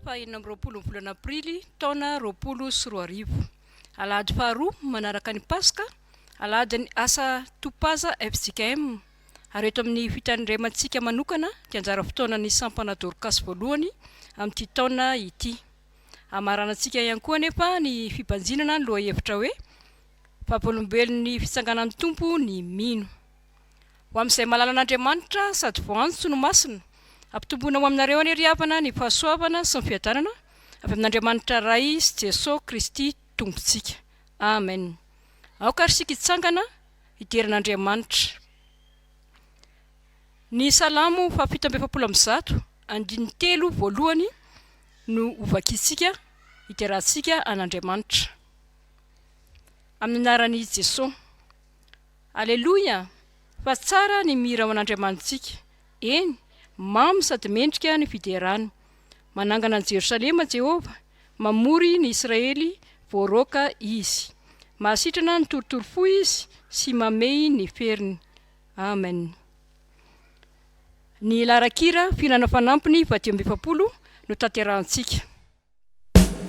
fahenina amby roapolo volana aprily taona roapolo sy roa arivo alahady faharoa manaraka ny paska Alahadin'ny asa Topaza fjkm ary eto amin'ny fitandremantsika manokana dia anjara fotoanan'ny sampana Dorcas voalohany amin'ity taona ity. Hamaranantsika ihany koa anefa ny fibanjinana ny lohahevitra hoe Vavolombelon'ny Fitsanganan'ny Tompo ny Mino. Ho amin'izay malala an'Andriamanitra sady voantso no masina, ampitomboina ho aminareo anie ry havana ny fahasoavana sy ny fiadanana avy amin'Andriamanitra Ray sy Jesoa Kristy Tompontsika. Amen. Aoka ary isika hitsangana hijery an'Andriamanitra. Ny Salamo fahafito amby efapolo amby zato, andininy telo voalohany no hovakintsika hiderahantsika an'Andriamanitra, amin'ny anaran'i Jesoa. Aleloia! Fa tsara ny mihira ho an'Andriamanitsika. Eny, mamy sady mendrika ny fiderany. Manangana an'i Jerosalema Jehovah, mamory ny Israely voaroaka Izy. Mahasitrana ny torotoro fo Izy sy mamehy ny feriny. Amen. Ny laharan-kira Fihinana Fanampiny faha dimy amby efapolo no tanterahantsika.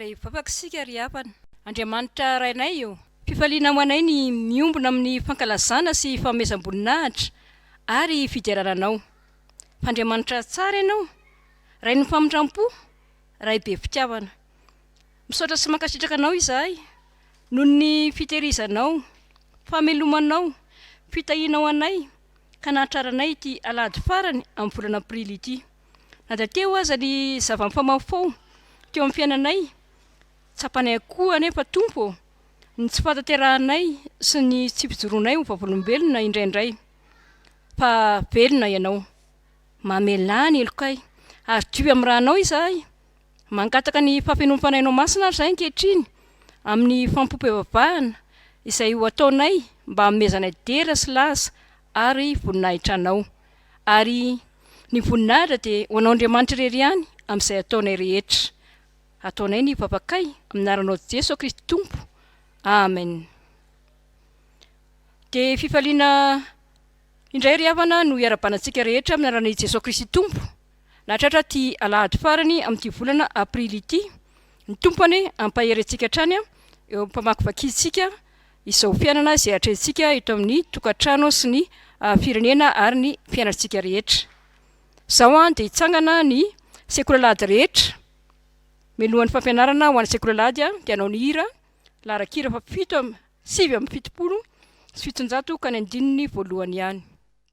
Ary hivavaka isika, ry havana. Andriamanitra Rainay ô! Fifaliana ho anay ny miombona amin'ny fankalazana sy fanomezam-boninahitra ary fiderana Anao. Fa Andriamanitra tsara Ianao, Rain'ny famindram-po, Ray be fitiavana. Misaotra sy mankasitraka Anao izahay noho ny fitehirizanao, famelomanao, fitahianao anay, ka nahatraranay ity alahady farany amin'ny volana aprily ity. Na dia teo aza ny zava-mifamahofaho teo amin'ny fiainanay, tsapanay avokoa anefa, Tompo ô, ny tsy fahatanterahanay sy ny tsy fijoroanay ho vavolombelona indraindray. Fa velona Ianao. Mamelà ny helokay, ary dioy amin'ny Ranao izahay. Mangataka ny fahafenoan'ny Fanahy Nao Masina ary izahay ankehitriny amin'ny fampom-pivavahana izay ho ataonay mba hanomezanay dera sy laza ary voninahitra Anao. Ary ny voninahitra dia ho Anao Andriamanitra irery ihany amin'izay ataonay rehetra. Ataonay ny vavakay amin'ny anaranao Jeso Kristy Tompo. Amen. Dia fifaliana indray ry havana no hiara-banatsika rehetra amin'ny anaran'i Jeso Kristy Tompo. Nahatratra ity alahady farany amin'ity volana aprily ity ny Tompo anie hampahery antsika hatrany eo amin'ny famakivakintsika izao fiainana izay atrehintsika eto amin'ny tokantrano sy ny firenena ary ny fiainantsika rehetra. Izao dia hitsangana ny sekolalahady rehetra, melohan'ny fampianarana ho an'ny sekolalahady dia hanao ny hira laharan-kira fa fito am, sivy amby fitopolo sy fitonjato ka ny andininy voalohany ihany.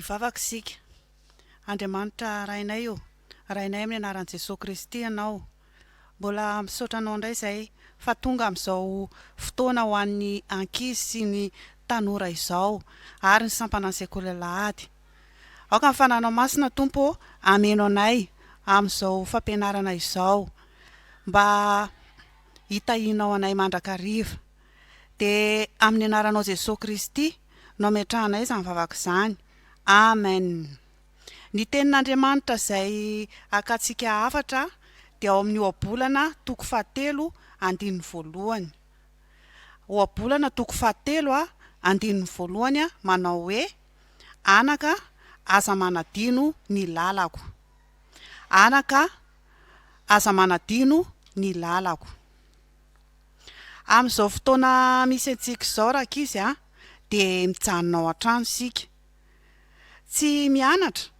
Hivavaka isika. Andriamanitra Rainay ô, Rainay amin'ny anaran'i Jesoa Kristy Ianao, Mbola misaotra anao indray izay fa tonga amin'izao fotoana ho an'ny ankizy sy ny tanora izao ary ny sampanan'ny sekoly alahady. Aoka ny fananao masina Tompo ô hameno anay amin'izao fampianarana izao mba hitahianao anay mandrakariva. Dia amin'ny anaranao Jesosy Kristy no ametrahanay izany vavaka izany. Amen. Ny Tenin'Andriamanitra izay akantsika hafatra dia ao amin'ny Ohabolana toko fahatelo andininy voalohany. Ohabolana toko fahatelo andininy voalohany manao hoe, Anaka, aza manadino ny lalako. Anaka, aza manadino ny lalako. Amin'izao fotoana misy antsika izao, rankizy, dia mijanona ao an-trano isika. Tsy mianatra?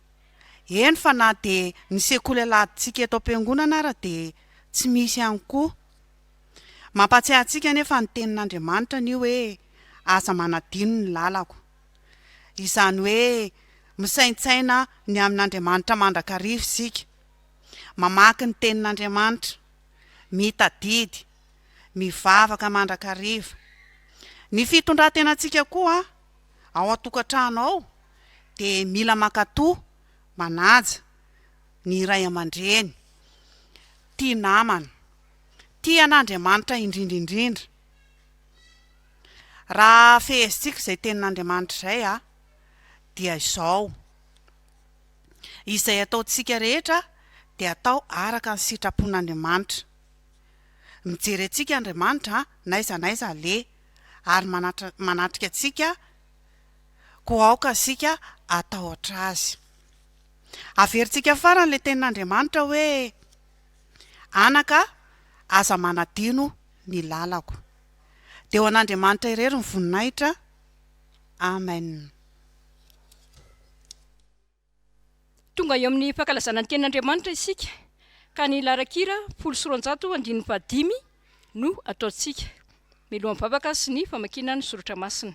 Eny fa na dia ny sekoly aladintsika eto am-piangonana ara dia tsy misy ihany koa. Mampahatsiahy antsika anefa ny tenin'Andriamanitra ny hoe aza manadino ny lalako. Izany hoe misaintsaina ny amin'Andriamanitra mandrakariva isika, mamaky ny tenin'Andriamanitra, mitadidy, mivavaka mandrakariva. Ny fitondran-tenantsika koa ao an-tokantrano ao dia mila mankatò, manaja ny ray aman-dreny, tia namana, tia an'Andriamanitra indrindra indrindra. Raha fehezintsika izay tenin'Andriamanitra izay dia izao, Izay ataontsika rehetra dia atao araka ny sitrapon'Andriamanitra. Mijery antsika Andriamanitra n'aiza n'aiza aleha. ary manatrika antsika, koa aoka isika hatahotra Azy. Averintsika farany ilay tenin'Andriamanitra hoe, Anaka a, aza manadino ny lalako. Dia ho an'Andriamanitra irery ny voninahitra. Amen. Tonga eo amin'ny fankalazana ny tenin'Andriamanitra isika ka ny larakira folo sy roanjato andininy fahadimy no ataontsika mialohan'ny vavaka sy ny famakiana ny soratra masina.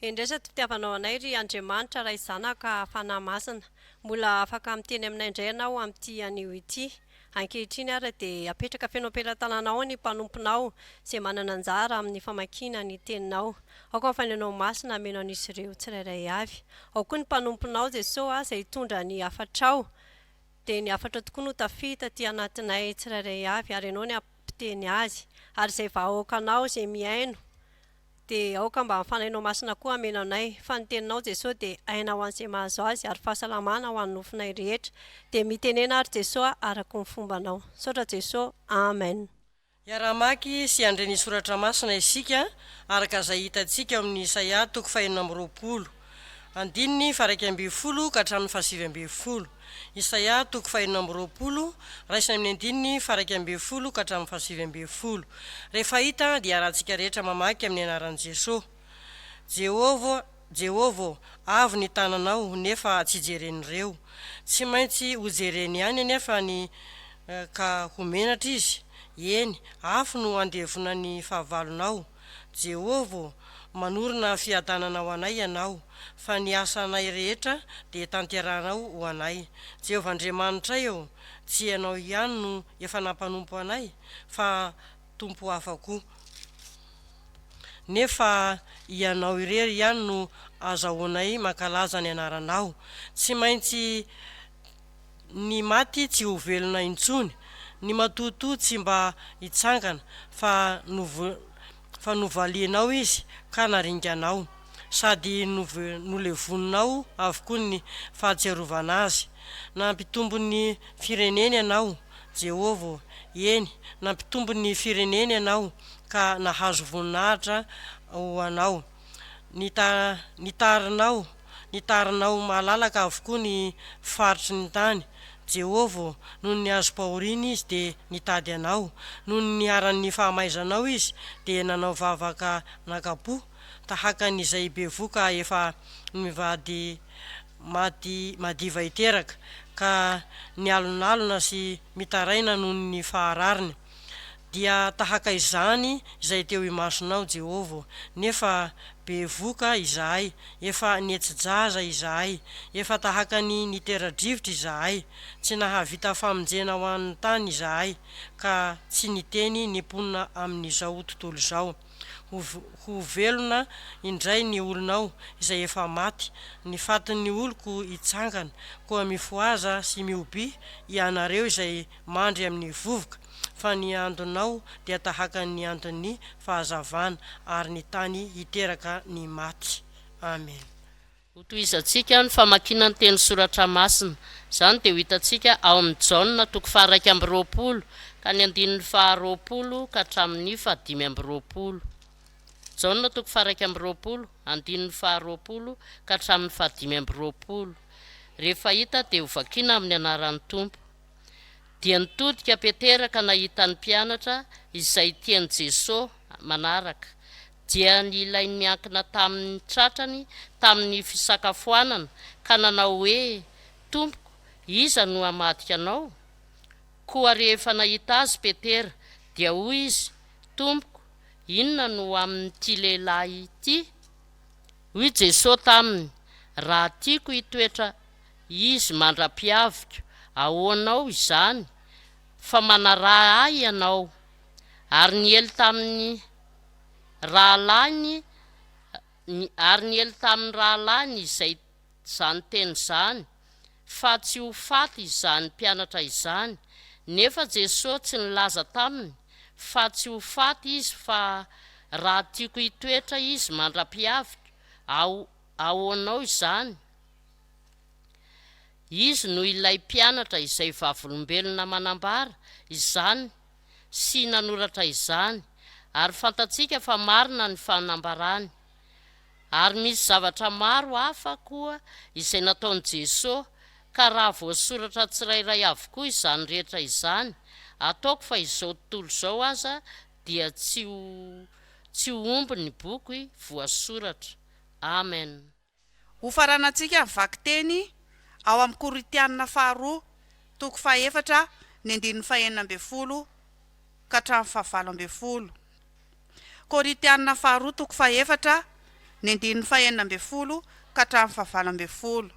Hendresa ity fitiavanao anay ry Andriamanitra Ray Zanaka Fanahy Masina. Mbola afaka miteny aminay indray ianao amin'ity anio ity. Ankehitriny ary dia apetraka feno am-pelatananao ao ny mpanomponao izay manana anjara amin'ny famakiana ny teninao. Aoka ny fanahinao masina hameno an'izy ireo tsirairay avy. Ao koa ny mpanomponao Jesoa ah izay hitondra ny hafatrao. Dia ny hafatrao tokoa no tafita aty anatinay tsirairay avy ary ianao ny hampiteny azy. Ary izay vahaokanao izay mihaino. Dia aoka mba ny Fanahinao Masina koa hameno anay. Fa ny Teninao, Jesoa, dia aina ho an'izay mahazo Azy, ary fahasalamana ho an'ny nofonay rehetra. Dia mitenena ary, Jesoa a, araka ny fombanao. Misaotra, Jesoa. Amen. Hiara-hamaky sy handre ny Soratra Masina isika, araka izay hitantsika ao amin'ny Isaia toko fahenina amby roapolo. Andininy faharaika ambin'ny folo ka hatramin'ny fahasivy ambin'ny folo. Isaia toko fahenina amby roapolo, raisina amin'ny andininy faharaika ambin'ny folo ka hatramin'ny fahasivy ambin'ny folo. Rehefa hita dia arahantsika rehetra mamaky amin'ny anaran'i Jesoa. Jehovah, Jehovah, avo ny tananao, nefa tsy jeren'ireo. Tsy maintsy hojereny ihany anefa ny ka ho menatra izy. Eny, afo no handevona ny fahavalonao. Jehovah ô, manorina fiadanana ho anay Ianao, fa ny asanay rehetra dia tanterahanao ho anay. Jehovah Andriamanitray ô, tsy Ianao ihany no efa nampanompo anay, fa tompo hafa koa. Nefa Ianao irery ihany no azahoanay mankalaza ny Anaranao. Tsy maintsy Ny maty tsy ho velona intsony, ny matotoa tsy mba hitsangana, fa nov fa novalianao izy ka naringanao, sady nov nolevoninao avokoa ny fahatsiarovana azy. Nampitombo ny fireneny ianao, Jehovah, eny, nampitombo ny fireneny ianao, ka nahazo voninahitra ho anao. ny ta ny tarinao ny tarinao malalaka avokoa ny faritry ny tany Jehovah nony nihazo-pahoriana izy dia nitady anao nony niharan' ny fahamaizanao izy dia nanao vavaka naka-po tahaka ny izay bevoka efa mivady maty madiva hiteraka ka nialonalona sy mitaraina nony ny faharariny dia tahaka izany izay teo imasonao, Jehovah, nefa bevoka izahay, efa nihetsi-jaza izahay, efa tahaka ny nitera-drivotra izahay, tsy nahavita famonjena ho an'ny tany izahay, ka tsy niteny ny mponina amin'izao tontolo izao. Ho, ho velona indray ny olonao izay efa maty, ny fatin'ny oloko hitsangana, koa mifohaza sy mihobiha ianareo izay mandry amin'ny vovoka, fa ny andonao dia tahaka ny andon'ny fahazavana, ary ny tany hiteraka ny maty. Amen. Hotohizantsika ny famakiana ny teny soratra masina. Izany dia ho hitantsika ao amin'ny Jaona toko faha-iraika amby roapolo ka ny andininy faha-roapolo ka hatramin'ny fahadimy amby roapolo. Jaona toko faha-iraika amby roapolo, andininy faha-roapolo ka hatramin'ny fahadimy amby roapolo. Rehefa hita dia hovakiana amin'ny anaran'ny Tompo. dia nitodika Petera ka nahita ny mpianatra izay tian'i Jesoa manaraka, dia ny ilay niankina taminy tratrany tamin'ny fisakafoanana ka nanao hoe, Tompoko, iza no hamadika Anao? Koa rehefa nahita Azy Petera, dia hoy izy, Tompoko, inona no ho amin'ity lehilahy ity? Hoy Jesoa taminy, Raha tiako hitoetra Izy mandra-pihaviko, ahoanao izany, fa manaraha ahy ianao? Ary niely tamin'ny rahalahiny Ary niely tamin'ny rahalahiny izay izany teny izany, fa tsy ho faty izany mpianatra izany, nefa Jesosy tsy nilaza taminy fa tsy ho faty izy fa Raha tiako hitoetra izy mandra-pihaviko, aho, ahoanao izany? Izy no ilay mpianatra izay vavolombelona manambara izany sy nanoratra izany, ary fantatsika fa marina ny fanambarany. Ary misy zavatra maro hafa koa izay nataon'i Jesoa, ka raha voasoratra tsirairay avokoa izany rehetra izany, ataoko fa izao tontolo izao aza dia tsy ho tsy ho omby ny boky voasoratra. Amena. Hofaranantsika ny vakiteny ao amin'ny Korintiana faharoa toko fahefatra ny andininy fahenina ambin'ny folo ka hatramin'ny fahavalo ambin'ny folo. Korintiana faharoa toko fahefatra ny andininy fahenina ambin'ny folo ka hatramin'ny fahavalo ambin'ny folo.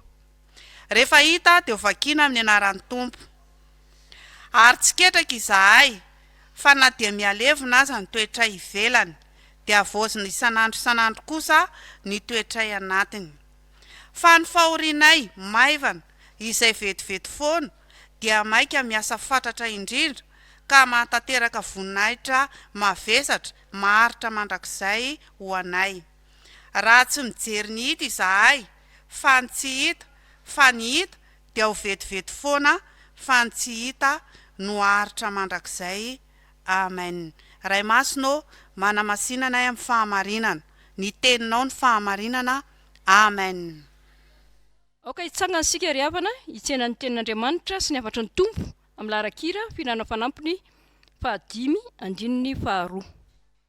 Rehefa hita dia ho vakiana amin'ny anaran'ny Tompo. Ary tsy ketraka izahay fa na dia mihalevona aza ny toetray ivelany, dia havaozina isan'andro isan'andro kosa ny toetray anatiny. Fa ny fahorianay maivana, izay vetivety foana, dia maika miasa fatratra indrindra ka mahatanteraka voninahitra mavesatra maharitra mandrakizay ho anay. Raha tsy mijery ny hita izahay fa ny tsy hita fa ny hita dia ho vetivety foana fa ny tsy hita no haharitra mandrakizay Amen Ray Masina ô manamasina anay amin'ny fahamarinana ny teninao ny fahamarinana Amen. Aoka hitsangana isika ry havana hitsena ny tenin'Andriamanitra sy ny hafatry ny Tompo amin'ny laharan-kira fihinanana fanampiny fahadimy andininy faharoa.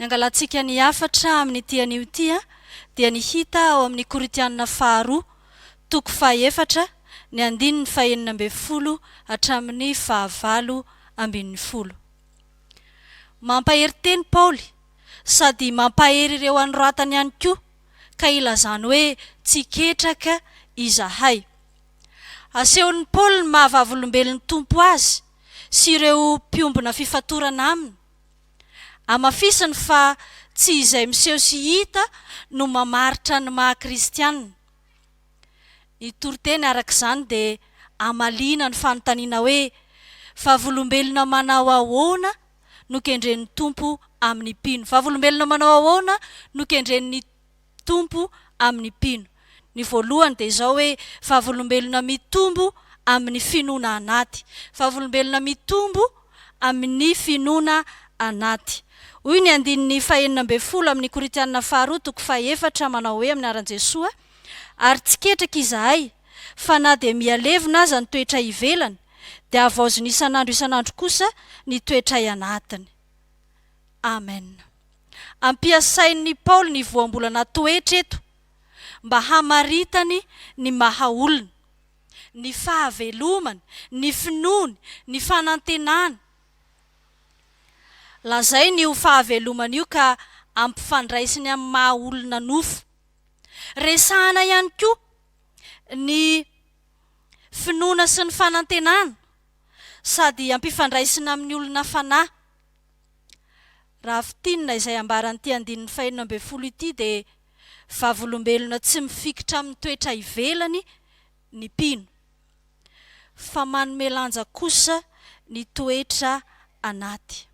Ny angalantsika ny hafatra amin'ity anio ity dia ny hita ao amin'ny Korintianina faharoa, toko fahaefatra, ny andininy fahenina ambin'ny folo hatramin'ny fahavalo ambin'ny folo. Mampahery teny Paoly sady mampahery ireo anoratany ihany koa ka ilazany hoe tsy ketraka izahay. Asehon'i Paoly ny maha vavolombelon'ny Tompo azy sy ireo mpiombona fifatorana aminy. Hamafisiny fa tsy izay miseho sy hita no mamaritra ny maha kristiana. Ny toriteny araka izany dia hamaliana ny fanontaniana hoe, Vavolombelona manao ahoana no kendren'ny Tompo amin'ny mpino? Vavolombelona manao ahoana no kendren'ny. Tompo amin'ny mpino. Ny voalohany dia izao hoe, vavolombelona mitombo amin'ny finoana anaty. Vavolombelona mitombo amin'ny finoana anaty. Hoy ny andininy fahenina ambin'ny folo amin'ny Korintianina faharoa toko fahefatra, manao hoe amin'ny anaran'i Jesoa, Ary tsy ketraka izahay, fa na dia mihalevona aza ny toetray ivelany, dia havaozina isan'andro isan'andro kosa ny toetray anatiny. Amen. Ampiasain'i Paoly ny voambolana toetra eto mba hamaritany ny maha-olona, ny fahavelomany, ny finoany, ny fanantenany. Lazainy io fahavelomana io ka ampifandraisiny amin'ny maha-olona nofo. Resahana ihany koa ny finoana sy ny fanantenana sady ampifandraisina amin'ny olona fanahy. Raha fintinina izay ambaran'ity andininy fahenina ambin'ny folo ity dia vavolombelona tsy mifikitra amin'ny toetra ivelany ny mpino, fa manome lanja kosa ny toetra anaty.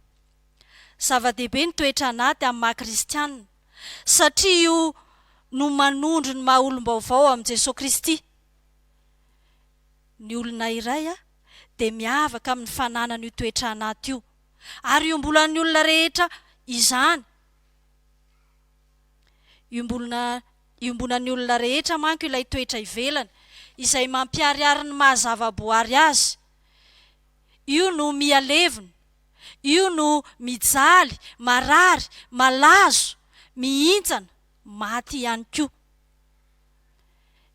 Zava-dehibe ny toetra anaty amin'ny maha kristiana, satria io no manondro ny maha olom-baovao amin'i Jesoa Kristy ny olona iray. dia miavaka amin'ny fananany io toetra anaty io, ary iombolan'ny olona rehetra izany. Iombolona, iombonan'ny olona rehetra manko ilay toetra ivelany, izay mampiharihary ny maha zava-boary azy. Io no miha levona, io no mijaly, marary, malazo, mihintsana, maty ihany koa.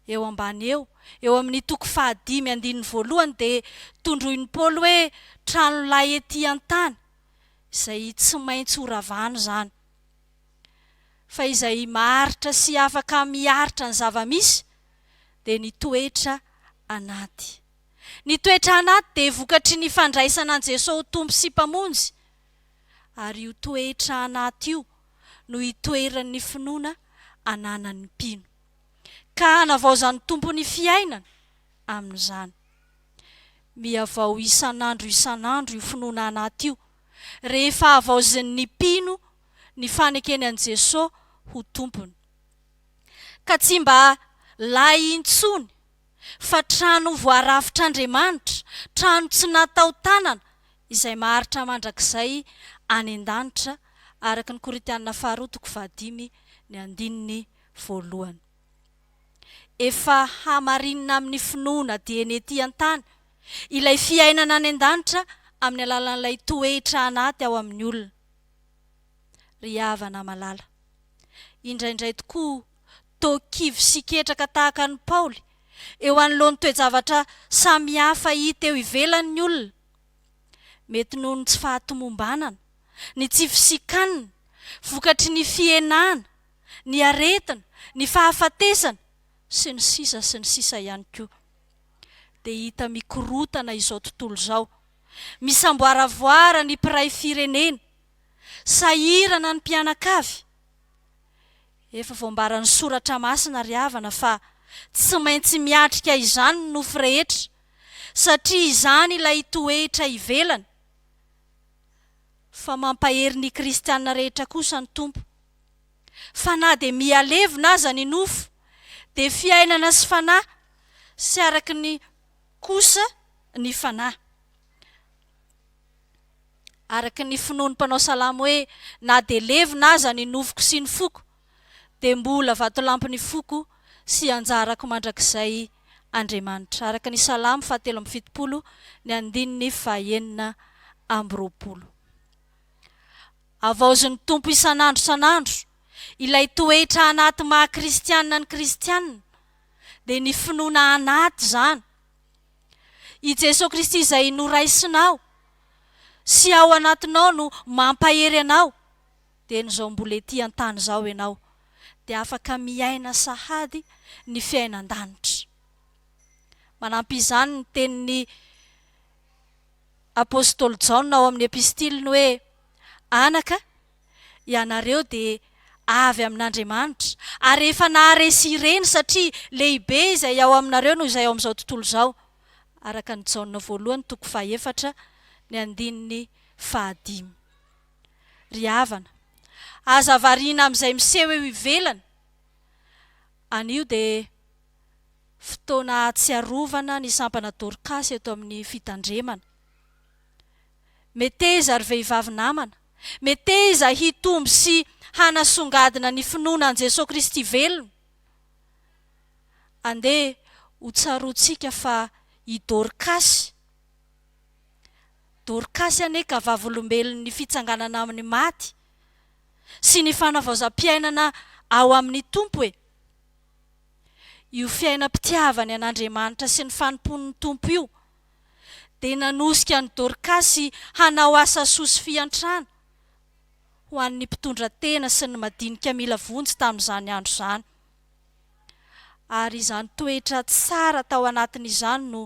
Eo ambany eo, eo amin'ny toko fahadimy andininy voalohany dia tondroin'i Paoly hoe trano lay ety an-tany, izay tsy maintsy ho ravana izany. Fa izay maharitra sy afaka miaritra ny zava-misy dia ny toetra anaty. Ny toetra anaty dia vokatry ny fandraisana an'i Jesoa ho Tompo sy Mpamonjy. ary io toetra anaty io no itoeran'ny finoana ananan'ny mpino, ka hanavaozan'ny Tompo ny fiainany amin'izany. Mihavao isan'andro isan'andro io finoana anaty io, rehefa havaozin'ny mpino ny fanekeny an'i Jesoa ho Tompony, ka tsy mba lay intsony fa trano voarafitr'Andriamanitra, trano tsy natao tanana, izay maharitra mandrakizay any an-danitra, araka ny Korintiana faharoa toko fahadimy ny andininy voalohany. Efa hamarinina amin'ny finoana dieny ety an-tany ilay fiainana any an-danitra amin'ny alalan'ilay toetra anaty ao amin'ny olona. Ry havana malala, indraindray tokoa toa kivy sy ketraka tahaka an'i Paoly eo anoloan'ny toe-javatra samihafa hita eo ivelany ny olona. Mety noho ny tsy fahatomombanana, ny tsy fisikan'ny vokatry ny fihenana, ny aretina, ny fahafatesana, sy ny sisa sy ny sisa ihany koa. Dia hita mikorotana izao tontolo izao, misamboaravoara ny mpiray firenena, sahirana ny mpianakavy, Efa voambaran'ny Soratra Masina ry havana fa tsy maintsy miatrika izany ny nofo rehetra, satria izany ilay toetra ivelany, fa mampahery ny kristiana rehetra kosa ny Tompo. Fa na dia miha levona aza ny nofo, dia fiainana sy fanahy sy araka ny kosa ny fanahy. araka ny finoan'ny mpanao salamo hoe na dia levona aza ny nofoko sy ny foko dia mbola vatolampin'ny foko sy anjarako mandrakizay Andriamanitra, araka ny Salamo fahatelo amby fitopolo ny andininy fahaenina amby roapolo. Havaozin'ny Tompo isan'andro isan'andro ilay toetra anaty maha kristiana ny kristiana dia ny finoana anaty izany, I Jesoa Kristy izay noraisinao sy ao anatinao no mampahery anao dia no izao mbola ety an-tany izao ianao dia afaka miaina sahady ny fiainan-danitra. Manampy izany ny tenin'ny Apostoly Jaona ao amin'ny epistiliny hoe, Anaka, Ianareo dia avy amin'Andriamanitra, ary efa naharesy ireny, satria lehibe izay ao aminareo noho izay ao amin'izao tontolo izao. Araka an'i Jaona voalohany toko fahefatra, ny andininy fahadimy. Ry havana, aza variana amin'izay miseho eo ivelany. Anio dia fotoana ahatsiarovana ny sampana Dorkasy eto amin'ny fitandremana. Meteza, ry vehivavy namana, meteza hitombo sy hanasongadina ny finoana an'i Jesoa Kristy velona. Andeha hotsaroantsika fa i Dorkasy, Dorkasy anie ka vavolombelon'ny fitsanganana amin'ny maty sy ny fanavaozam-piainana ao amin'ny Tompo e! Io fiainam-pitiavany an'Andriamanitra sy ny fanompoany ny Tompo io, dia nanosika an'i Dorkasy hanao asa soa sy fiantrana ho an'ny mpitondra tena sy ny madinika mila vonjy tamin'izany andro izany. Ary izany toetra tsara tao anatiny izany no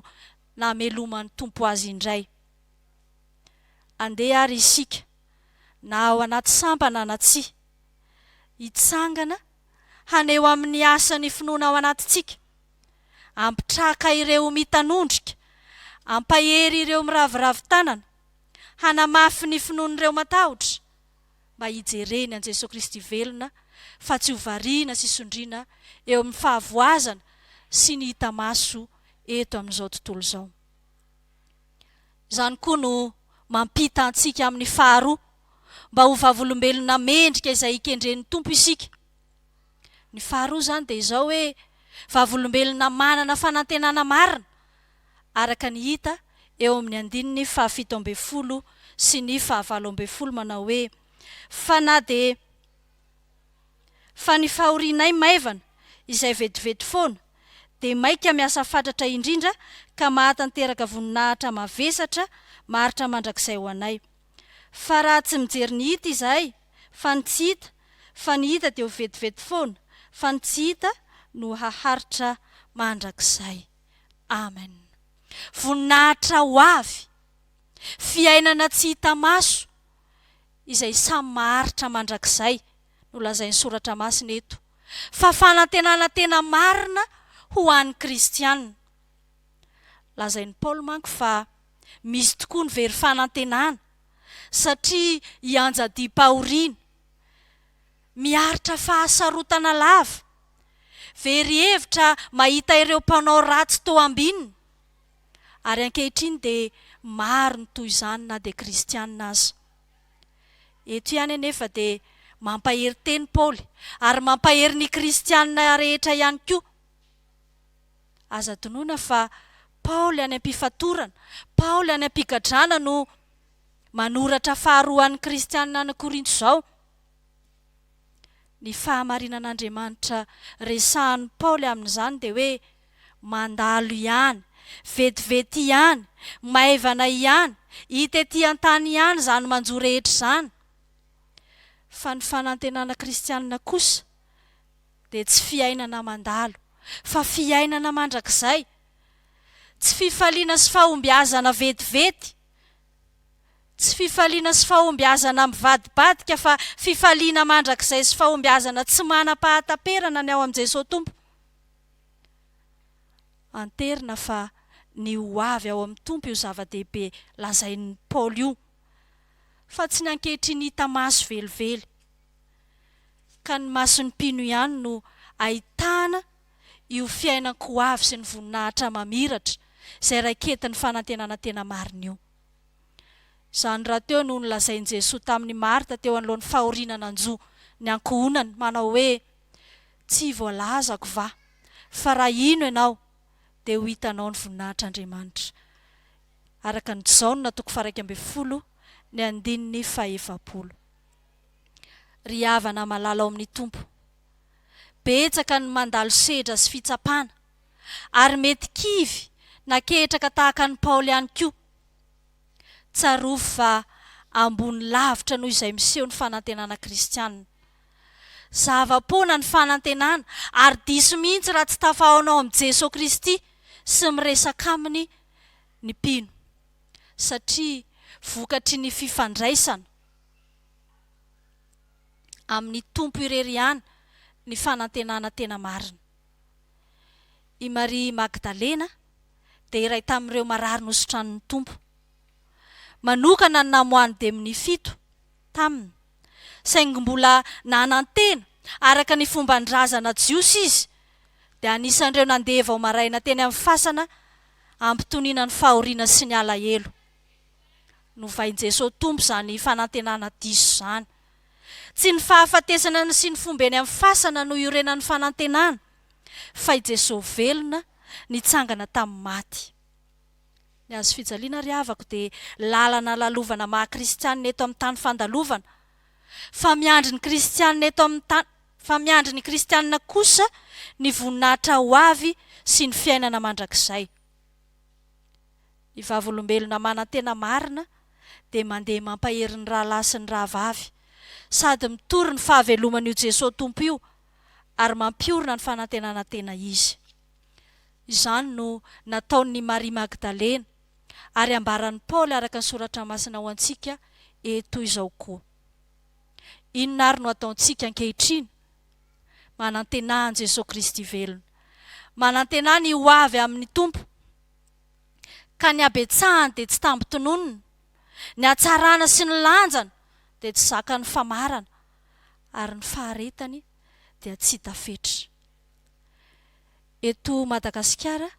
nameloman'ny Tompo azy indray. Andeha ary isika, na ao anaty sampana na tsia, hitsangana haneho amin'ny asa ny finoana ao anatintsika. Hampitraka ireo mitanondrika, hampahery ireo miraviravy tanana, hanamafy ny finoan'ireo matahotra, mba hijereny an'i Jesoa Kristy velona fa tsy ho variana sy sondriana eo amin'ny fahavoazana sy ny hita maso eto amin'izao tontolo izao. Izany koa no mampita antsika amin'ny faharoa, mba ho vavolombelona mendrika izay hikendren'ny Tompo isika. Ny faharoa izany dia izao hoe, vavolombelona manana fanantenana marina, araka ny hita eo amin'ny andininy fahafito ambin'ny folo sy ny fahavalo ambin'ny folo manao hoe, Fa na dia Fa ny fahorianay maivana, izay vetivety foana, dia maika miasa fatratra indrindra ka mahatanteraka voninahitra mavesatra maharitra mandrakizay ho anay. Fa raha tsy mijery ny hita izay fa ny tsy hita fa ny hita dia ho vetivety foana fa ny tsy hita no haharitra mandrakizay Amen Voninahitra ho avy Fiainana tsy hita maso izay samy maharitra mandrakizay no lazain'ny soratra masina eto fa fanantenana tena marina ho an'ny kristiana Lazain'i Paoly manko fa Misy tokoa ny very fanantenana satria i Anjadiam-pahoriana miaritra fahasarotana lava, very hevitra mahita ireo mpanao ratsy toa ambinina, ary ankehitriny dia maro ny toy izany na dia kristiana aza. Eto ihany anefa dia mampahery tena Paoly ary mampahery ny kristiana rehetra ihany koa. Aza adinoina fa Paoly any am-pifatorana, Paoly any am-pigadrana no manoratra faharoa an'ny kristiana any Korinto izao. Ny fahamarinan'Andriamanitra resahin'i Paoly amin'izany dia hoe mandalo ihany, vetivety ihany, maivana ihany, hita ety an-tany ihany izany manjo rehetra izany. Fa ny fanantenana kristiana kosa, dia tsy fiainana mandalo, fa fiainana mandrakizay. Tsy fifaliana sy fahombiazana vetivety, tsy fifaliana sy fahombiazana mivadibadika, fa fifaliana mandrakizay sy fahombiazana tsy manam-pahataperana ny ao amin'i Jesoa Tompo. Anterina fa ny ho avy ao amin'ny Tompo io zava-dehibe lazain'i Paoly io, fa tsy ny ankehitriny hita maso velively. ka ny mason'ny mpino ihany no ahitana io fiainan-ko avy sy ny voninahitra mamiratra izay raiketin'ny fanantenana tena marina io. Izany rahateo no nolazain'i Jesoa tamin'i Marta teo anoloan'ny fahoriana nanjo ny ankohonany manao hoe, Tsy voalazako va fa raha hino ianao dia ho hitanao ny voninahitr'Andriamanitra? araka ny Jaona toko faharaika ambin'ny folo ny andininy fahefapolo. ry havana malala ao amin'ny Tompo. Betsaka ny mandalo sedra sy fitsapana, ary mety kivy na ketraka tahaka an'i Paoly ihany koa. Tsarovy fa ambony lavitra noho izay miseho ny fanantenana kristianina. Zava-poana ny fanantenana, ary diso mihitsy raha tsy tafahaona ao amin'i Jesoa Kristy sy miresaka Aminy ny mpino, satria vokatry ny fifandraisana. amin'ny Tompo irery ihany ny fanantenana tena marina. I Maria Magdalena dia iray tamin'ireo marary nosotranin'ny Tompo. Manokana ny namoahany demony fito taminy, saingy mbola nanantena araka ny fomban-drazana jiosy izy, dia anisan'ireo nandeha vao maraina teny amin'ny fasana hampitoniana ny fahoriana sy ny alahelo. Novain'i Jesoa Tompo izany fanantenana diso izany. Tsy ny fahafatesana ny sy ny fomba eny amin'ny fasana no iorenan'ny fanantenana, fa i Jesoa velona nitsangana tamin'ny maty. Ny Hazo fijaliana ry havako dia lalana lalovana maha kristianina eto amin'ny tany fandalovana, fa miandry ny kristianina eto amin'ny tany fa miandry ny kristianina kosa ny voninahitra ho avy sy ny fiainana mandrakizay. Ny Vavolombelona manantena marina dia mandeha mampahery ny rahalahy sy ny rahavavy, sady mitory ny fahaveloman'io Jesoa Tompo io ary mampiorina ny fanantenana tena Izy. Izany no nataon'i Maria Magdalena, ary ambaran'i Paoly araka ny Soratra Masina ho antsika eto izao koa. Inona àry no ataontsika ankehitriny? Manantenà an'i Jesoa Kristy velona. Manantenà ny ho avy amin'ny Tompo. ka ny habetsahany dia tsy tambin-tononina, ny hatsarana sy ny lanjany dia tsy zakan'ny famarana, ary ny faharetany dia tsy hita fetra. Eto Madagasikara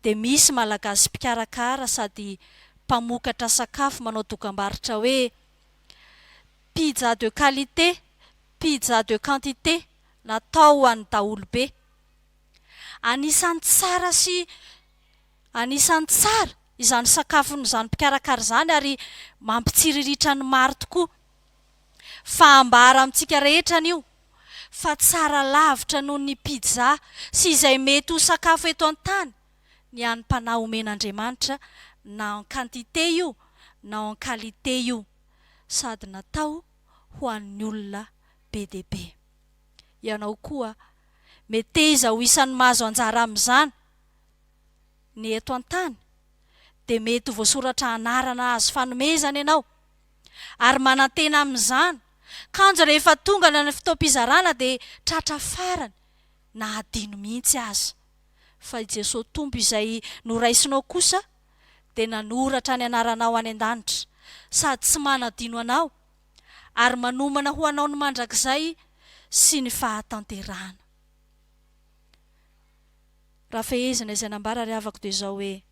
dia misy Malagasy mpikarakara sady mpamokatra sakafo manao dokambarotra hoe Pizza de qualité, pizza de quantité, natao ho an'ny daholobe. Anisan'ny tsara sy anisan'ny tsara izany sakafon'izany mpikarakara izany ary mampitsiriritra ny maro tokoa. Fahambara amintsika rehetra anio fa tsara lavitra noho ny pizza sy izay mety ho sakafo eto an-tany ny hanimpanà omen'Andriamanitra na en quantité io na en qualité io sady natao ho an'ny olona be dia be. Ianao koa meteza ho isan'ny mahazo anjara amin'izany. Ny eto an-tany dia mety ho voasoratra anarana azo fanomezana ianao ary manantena amin'izany kanjo rehefa tonga any amin'ny fotoam-pizarana dia tratra farany na adino mihitsy aza. Fa i Jesoa Tompo izay noraisinao kosa dia nanoratra ny anaranao any an-danitra sady tsy manadino anao. ary manomana ho anao ny mandrakizay sy ny fahatanterahana. Raha fehezina izay nambara ry havako dia izao hoe,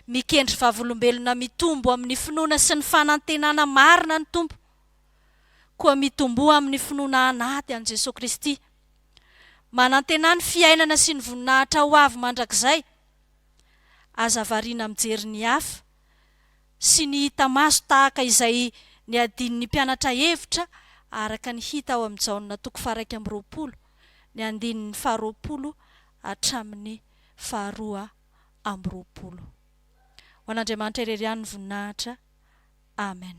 Mikendry vavolombelona mitombo amin'ny finoana sy ny fanantenana marina ny Tompo. Koa mitomboa amin'ny finoana anaty an'i Jesoa Kristy. Manantenà ny fiainana sy ny voninahitra ho avy mandrakizay. Aza variana mijery ny hafa. sy ny hita maso tahaka izay niadian'ny mpianatra hevitra araka ny hita ao amin'ny Jaona toko faharaika amby roapolo, ny andininy faharoapolo hatramin'ny faharoa amby roapolo. Ho an'Andriamanitra irery ihany ny voninahitra. Amen.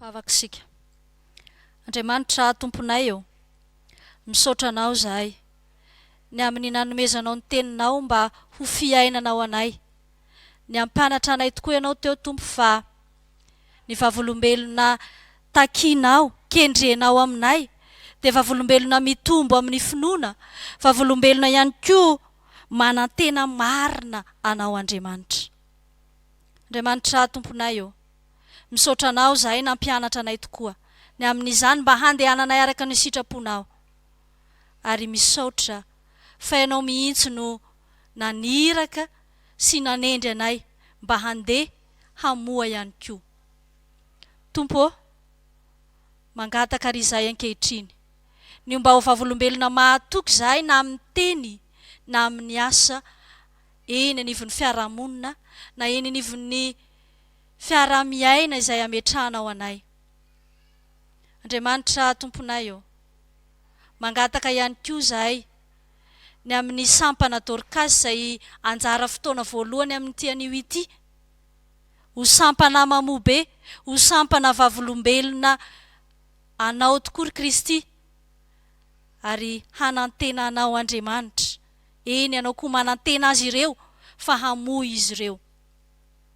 Vavaka isika. Andriamanitra aho Tomponay ô, misaotra Anao izahay ny amin'ny nanomezanao ny Teninao mba ho fiainana ho anay. Niampanatra anay tokoa Ianao teo Tompo fa ny vavolombelona takinao, kendrenao aminay dia vavolombelona mitombo amin'ny finoana, vavolombelona ihany koa manantena marina Anao Andriamanitra. Andriamanitra aho Tomponay ô. Misaotra anao zahay nampianatra anay tokoa ny amin'izany mba handehananay araka ny sitraponao ary misaotra fa ianao mihitsy no naniraka sy nanendry anay mba handeha hamoha ihany koa Tompo ô mangataka ary izahay ankehitriny ny ho mba ho vavolombelona mahatoky izahay na amin'ny teny na amin'ny asa eny anivon'ny fiarahamonina na eny anivon'ny fiaraha-miaina izay ametrahanao anay. Andriamanitra Tomponay ô, mangataka ihany koa izahay ny amin'ny sampana Dorcas izay anjara fotoana voalohany amin'ity anio ity, ho sampana mamobe, ho sampana vavolombelona Anao tokoa ry Kristy, ary hanantena Anao Andriamanitra, eny Ianao koa manantena azy ireo fa hamoy izy ireo.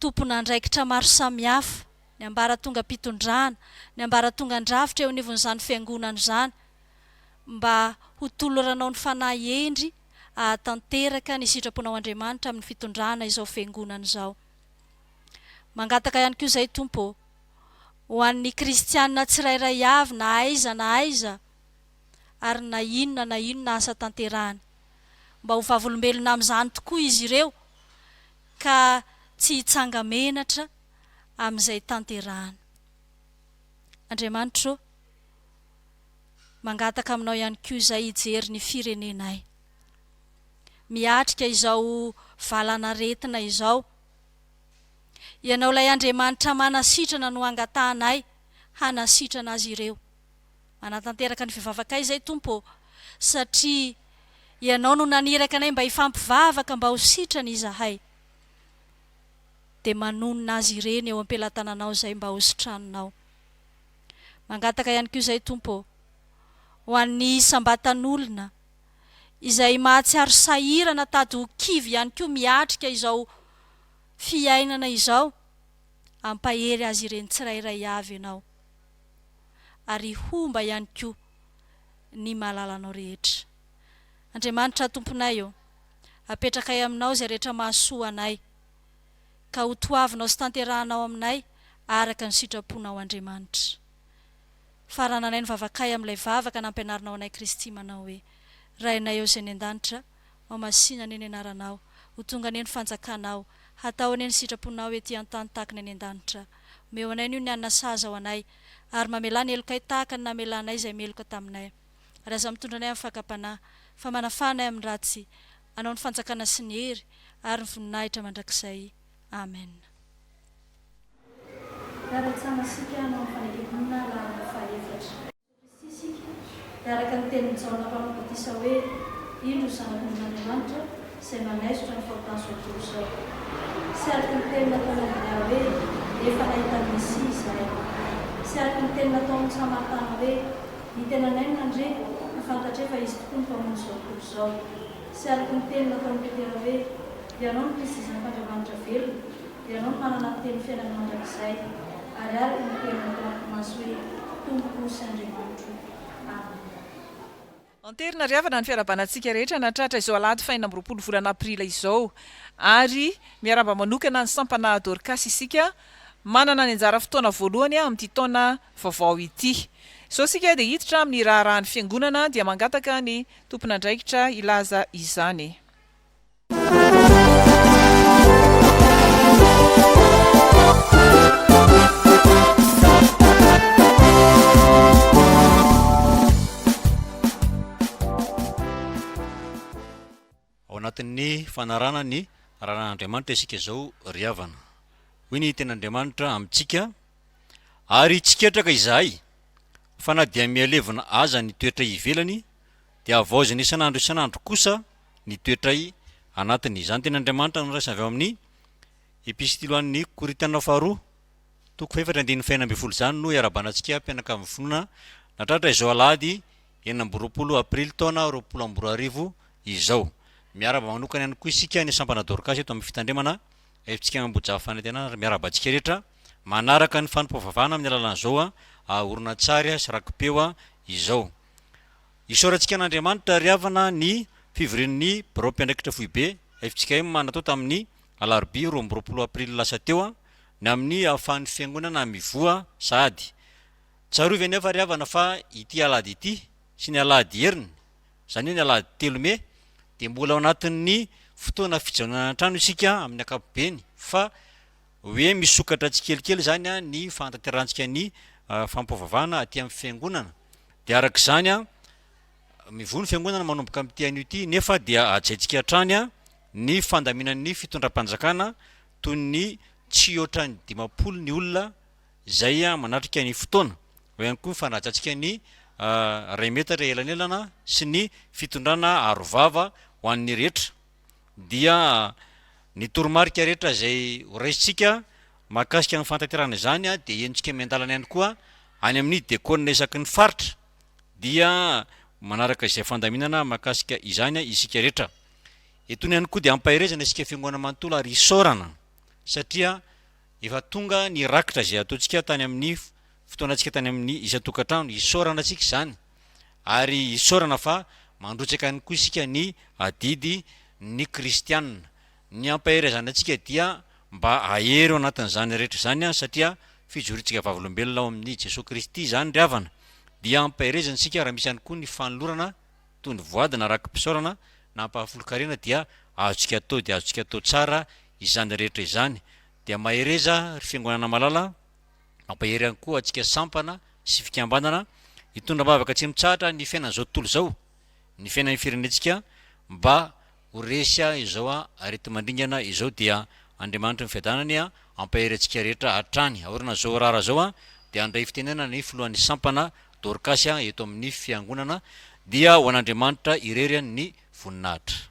tompon'andraikitra maro samihafa, ny ambaratongam-pitondrana, ny ambaratongan-drafitra eo anivon'izany Fiangonana izany, mba ho toloranao ny fanahy hendry hahatanteraka ny sitraponao Andriamanitra amin'ny fitondrana izao Fiangonana izao. Mangataka ihany koa izay Tompo ô, ho an'ny kristiana tsirairay avy na aiza na aiza ary na inona na inona asa tanterahany, mba ho vavolombelona amin'izany tokoa izy ireo, ka tsy hitsanga-menatra amin'izay tanterahina. Andriamanitra ô, mangataka aminao ihany koa izay hijery ny firenenay. Miatrika izao valanaretina izao. Ianao ilay Andriamanitra manasitrana no angatahanay hanasitrana azy ireo. Hanatanteraka ny fivavakay izay Tompo ô, satria Ianao no naniraka anay mba hifampivavaka mba ho sitrana izahay, dia manonona azy ireny eo am-pelatananao izay mba hositraninao. Mangataka ihany koa izay Tompo ô, ho an'ny isam-batan'olona izay mahatsiaro sahirana tady ho kivy ihany koa miatrika izao fiainana izao, ampahery azy ireny tsirairay avy Ianao. ary homba ihany koa ny mahalala Anao rehetra. Andriamanitra Tomponay ô, apetrakay Aminao izay rehetra mahasoa anay, ka ho toavinao sy tanterahanao aminay araka ny sitraponao Andriamanitra. Farananay ny vavakay amin'ilay vavaka nampianarinao anay Kristy manao hoe, Rainay ao izay any an-danitra, Ho masina anie ny anaranao, ho tonga anie ny fanjakanao, hatao anie ny sitraponao ety an-tany tahaka ny any an-danitra. Omeo anay anio ny hanina sahaza ho anay, ary mamelà ny helokay tahaka ny namelanay izay meloka taminay. Ary aza mitondra anay amin'ny fakam-panahy, fa manafaha anay amin'ny ratsy. Anao ny fanjakana sy ny hery ary ny voninahitra mandrakizay. Amena. Hiara-hisamasika hanao ny fanekemponina lalana fahaefatra. Kristy isika, dia araka ny tenin'i Jaona mpanao batisa hoe, Indro Zanak'Ondrin'Andriamanitra izay manaisotra ny fahotan'ny zotom-po izao. Sy araka ny teny nataon'i Andrea hoe, Efa nahita ny Mesia izahay. Sy araka ny teny nataon'i Samaritana hoe, Ny tenanay no nandre, ka fantatray fa Izy tokoa no Mpamonjy izao tontolo izao. Sy araka ny teny nataon'i Petera hoe, Ianao no Kristy Zanak'Andriamanitra velona. Ianao no manana ny teny fiainana mandrakizay, ary araka ny teniny tao am-pimaso hoe, Tompoko sy Andriamanitro. Amena. Anterina ry havana ny fiarahabana antsika rehetra nahatratra izao alahady fahenina amby roapolo volana aprily izao. Ary miarahaba manokana ny sampana Dorcas isika manana ny anjara fotoana voalohany amin'ity taona vaovao ity. Izao isika dia hiditra amin'ny raharahan'ny Fiangonana dia mangataka ny tompon'andraikitra hilaza izany. fanarana ny raran'Andriamanitra isika izao ry havana hoy ny ten'Andriamanitra amintsika ary tsy ketraka izahay fa na dia mihalevina aza ny toetra ivelany Dia havaozina isan'andro isan'andro kosa ny toetray anatiny. Izany teny Andriamanitra noraisina avy ao amin'ny Epistily ho an'ny Korintiana faharoa, toko fahefatra andininy fahenina ambin'ny folo izany no iarabanantsika mpianakavin'ny finoana natratra izao alahady enina amby roapolo aprily taona roapolo amby roa arivo izao. Miaraba manokana ihany koa isika ny sampana Dorcas eto amin'ny fitandremana Haifitsika Ambohijaha Fanantenana ary miaraba antsika rehetra manaraka ny fanompoam-pivavahana amin'ny alalan'izao horonantsary sy rakipeo izao. Isaorantsika an'Andriamanitra ry havana ny fivorian'ny Biraom-piandraikitra Foibe fjkm natao tamin'ny alarobia roa amby roapolo aprily lasa teo ny amin'ny ahafahan'ny Fiangonana mivoha sahady. Tsarovy anefa ry havana fa ity alahady ity sy ny alahady heriny, izany hoe ny alahady telo mey, dia mbola ao anatin'ny fotoana fijanonana an-trano isika amin'ny ankapobeny fa hoe misokatra tsikelikely izany ny fahatanterahantsika ny fampihavavahana aty amin'ny Fiangonana. Dia araka izany an, mivoy ny fiangonana manomboka amin'ity anio ity, nefa dia hajaintsika hatrany an, ny fandaminan'ny fitondram-panjakana toy ny tsy hoatran'ny dimampolo ny olona izay manatrika ny fotoana. Eo ihany koa ny fanajantsika ny iray metatra elanelana sy ny fitondrana arovava ho an'ny rehetra. dia ny toromarika rehetra izay ho raisintsika mahakasika ny fantanterahana izany dia henontsika miandalana ihany koa any amin'ny Diakona isaky ny Faritra dia manaraka izay fandaminana mahakasika izany isika rehetra. Etony ihany koa dia ampaherezana isika Fiangonana manontolo ary isaorana satria efa tonga ny rakitra izay ataontsika tany amin'ny fotoanantsika tany amin'ny isan-tokantrano, isaorana antsika izany. Ary isaorana fa mandrotsaka ihany koa isika ny adidy ny kristiana. Ny hampaherezana antsika dia mba ahery ao anatin'izany rehetra izany satria fijoroantsika vavolombelona ao amin'i Jesoa Kristy izany ry havana. Dia hampaherezana isika raha misy ihany koa ny fanolorana toy ny voady na raki-pisaorana na ampahafolon-karena dia azontsika atao dia azontsika atao tsara izany rehetra izany. Dia mahereza ry fiangonana malala. Mampahery ihany koa antsika sampana sy fikambanana hitondra am-bavaka tsy mitsahatra ny fiainan'izao tontolo izao, ny fiainan'ny firenentsika mba ho resy izao areti-mandringana izao dia Andriamanitry ny Fiadanany ampahery antsika rehetra hatrany. Aoriana izao rara izao dia handray fitenenana ny filohan'ny sampana Dorcas eto amin'ny fiangonana dia ho an'Andriamanitra irery ny voninahitra.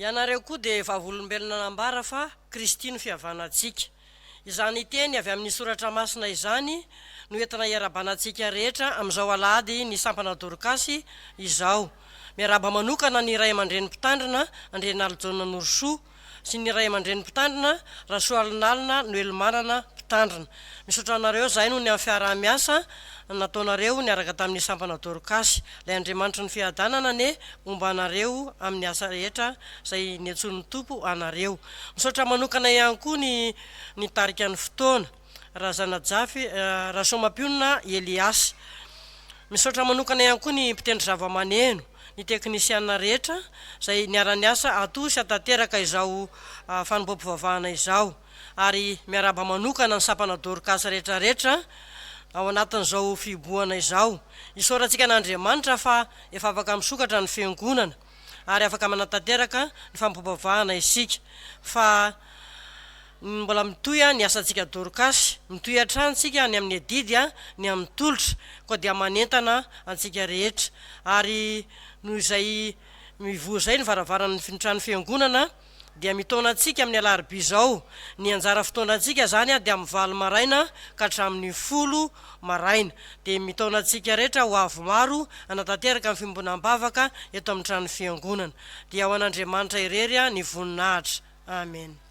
Ianareo koa dia vavolombelona nambara fa Kristy no fihavanantsika. Izany teny avy amin'ny Soratra Masina izany no entina iarabanantsika rehetra amin'izao Alahady ny Sampana Dorkasy izao. Miarahaba manokana ny Ray aman-dReny Mpitandrina, Andrianalijaona Norosoa, sy ny ray aman-dreny mpitandrina, Rasoalinalina Noelimanana, mpitandrina. Misaotra anareo zahay noho ny amin'ny fiaraha-miasa nataonareo niaraka tamin'ny sampana Dorcas. Ilay Andriamanitry ny fiadanana anie homba anareo amin'ny asa rehetra izay niantsoan'ny Tompo anareo. Misaotra manokana ihany koa ny nitarika ny fotoana. Razanajafy, Rasoamampionona Elias. Misaotra manokana ihany koa ny mpitendry zavamaneno, ny teknisiana rehetra izay niara-niasa hatory sy hatateraka izao fanombohampivavahana izao. Ary miarahaba manokana ny sampana Dorcas rehetrarehetra ao anatin'izao fihibohana izao. Isaorantsika an'Andriamanitra fa efa afaka misokatra ny Fiangonana. ary afaka manatanteraka ny fampompom-pivavahana isika fa mbola mitohy ny asantsika Dorkasy, mitohy hatrany isika ny amin'ny adidy, ny amin'ny tolotra, koa dia manentana antsika rehetra ary noho izay mivoha izay ny varavaran'ny trano fiangonana, dia mitaona antsika amin'ny alarobia izao, ny anjara fotoanantsika izany dia amin'ny valo maraina ka hatramin'ny folo maraina, dia mitaona antsika rehetra ho avy maro hanatanteraka ny fiombonana am-bavaka eto amin'ny tranon'ny Fiangonana, dia ho an'Andriamanitra irery ny voninahitra. Amena.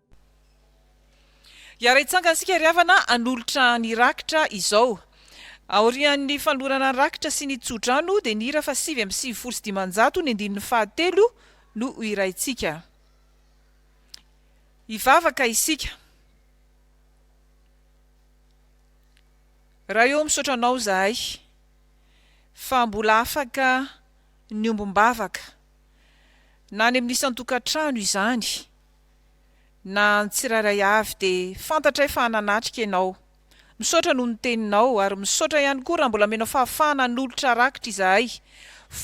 Hiara-hitsangana isika ry havana hanolotra ny rakitra izao. Aorian'ny fanolorana ny rakitra sy ny tsodrano dia ny hira fa sivy amby sivifolo sy dimanjato ny andininy fahatelo no ho hiraintsika. Hivavaka isika. Ray ô misaotra anao izahay fa mbola afaka niombom-bavaka na any amin'ny isan-tokantrano izany. Na ny tsirairay avy dia fantatray fa nanatrika ianao. Misaotra noho ny teninao ary misaotra ihany koa raha mbola menao fahafahana hanolotra rakitra izahay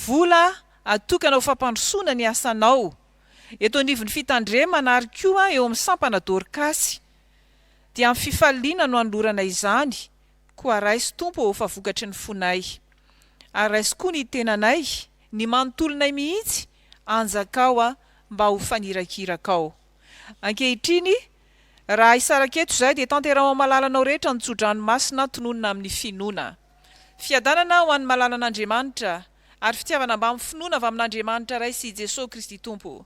vola atokana ho fampandrosoana ny asanao eto anivon'ny fitandremana ary koa eo amin'ny sampana Dorcas dia amin'ny fifaliana no anolorana izany Koa raiso Tompo ô fa vokatry ny fonay ary raiso koa ny tenanay ny manontolonay mihitsy anjakao a mba ho fanirakirakao ankehitriny raha hisaraka eto izay dia tanteraho am alalanao rehetra ny tsodrano masina tononina amin ny finoana fiadanana ho an malalan Andriamanitra ary fitiavana mbam finoana avy amin Andriamanitra Ray sy i Jesosy Kristy Tompo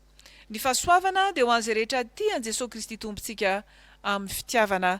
ny fahasoavana dia ho an izay rehetra tia an Jesosy Kristy Tompontsika amin fitiavana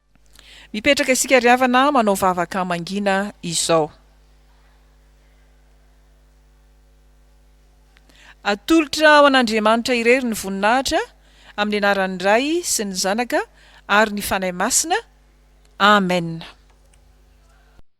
Mipetraka isika ry havana manao vavaka mangina izao. Atolotra ho an'Andriamanitra irery ny voninahitra amin'ny anaran'ny Ray sy ny Zanaka ary ny Fanahy Masina. Amen.